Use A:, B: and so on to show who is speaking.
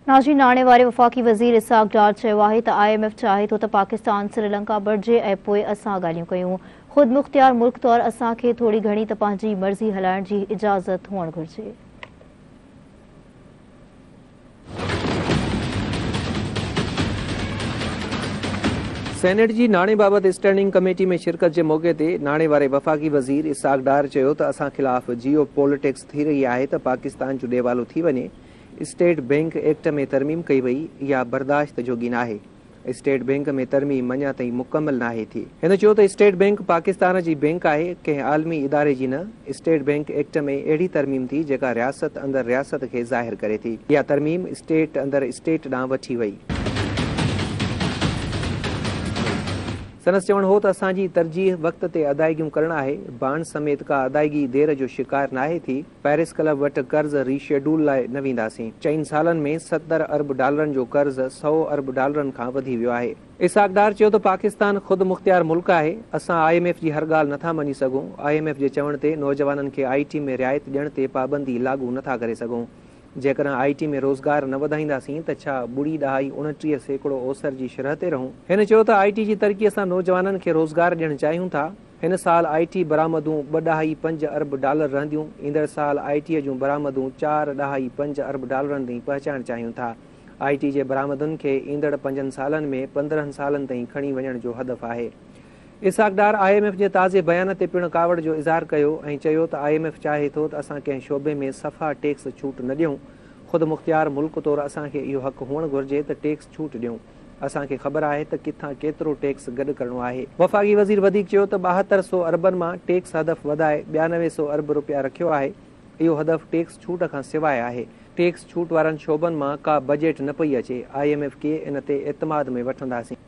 A: ناجي ناڻي واري وفاقي وزير اسحاق ڊار چيو آهي ته آء ايم ايف چاهي ٿو ته پاڪستان سريلنڪا بڻجي ۽ پوء اسان ڳالهيون ڪيون. خود مختيار ملڪ طور اسان کي ٿوري گهڻي ته پنهنجي مرضي هلائڻ جي اجازت هئڻ گهرجي.
B: سينيٽ جي ناڻي بابت اسٽينڊنگ ڪميٽي ۾ شرڪت جي موقعي تي ناڻي واري وفاقي وزير اسحاق ڊار چيو ته اسان خلاف جيو پوليٽڪس ٿي رهي آهي ته پاڪستان جو ڏيوالو ٿي وڃي. اسٽيٽ بئنڪ ايڪٽ ۾ ترميم ڪئي وئي، اها برداشت جوڳي ناهي، اسٽيٽ بئنڪ ۾ ترميم اڃا تائين مڪمل ناهي ٿي. هن چيو ته اسٽيٽ بئنڪ پاڪستان جي بئنڪ آهي، ڪنهن عالمي اداري جي نه، اسٽيٽ بئنڪ ايڪٽ ۾ اهڙي ترميم ٿي جيڪا رياست اندر رياست کي ظاهر ڪري ٿي، اها ترميم اسٽيٽ اندر اسٽيٽ ڏانهن وٺي وئي. سندس چوڻ هو ته اسان جي ترجيح وقت تي ادائيگيون ڪرڻ آهي، بانڊ سميت ڪا ادائيگي دير جو شڪار ناهي ٿي، پئرس ڪلب وٽ قرض ري شيڊول لاء نه وينداسين، چئن سالن ۾ ستر ارب ڊالرن جو قرض سؤ ارب ڊالرن کان وڌي ويو آهي. اسحاق ڊار چيو ته پاڪستان خود مختيار ملڪ آهي، اسان آء ايم ايف جي هر ڳالهه نٿا مڃي سگهون، آء ايم ايف جي چوڻ تي نوجوانن کي آء ٽي ۾ رعايت ڏيڻ تي پابندي لاڳو نٿا ڪري سگهون، جيڪڏهن آء ٽي ۾ روزگار نه وڌائينداسين ته ڇا ٻڙي ڏهائي اڻٽيهه سيڪڙو اوسر جي شرح تي رهون. هن چيو ته آء ٽي جي ترقي سان نوجوانن کي روزگار ڏيڻ چاهيون ٿا، هن سال آء ٽي برآمدون ٻه ڏهائي پنج ارب ڊالر رهنديون، ايندڙ سال آء ٽي جون برآمدون چار ڏهائي پنج ارب ڊالرن تائين پهچائڻ چاهيون ٿا. آء ٽي جي برآمدن کي ايندڙ پنجن سالن ۾ پندرهن سالن تائين کڻي وڃڻ جو هدف آهي. Ishaq Dar I M F جي تازي بيان تي پڻ ڪاوڙ جو اظهار ڪيو ۽ چيو ته آء ايم ايف چاهي ٿو ته اسان ڪنهن شعبي ۾ صفا ٽيڪس ڇوٽ نه ڏيون، خودمختيار ملڪ طور اسان کي اهو حق هئڻ گهرجي ته ٽيڪس ڇوٽ ڏيون. اسان کي خبر آهي ته ڪٿان ڪيترو ٽيڪس گڏ ڪرڻو آهي. وفاقي وزير وڌيڪ چيو ته ٻاهتر سؤ اربن مان ٽيڪس هدف وڌائي ٻيانوي سؤ ارب رپيا رکيو آهي، اهو هدف ٽيڪس ڇوٽ کان سواء آهي، ٽيڪس ڇوٽ وارن شعبن مان ڪا بجيٽ نه پئي اچي، آء ايم ايف کي ان تي اعتماد ۾ وٺنداسين.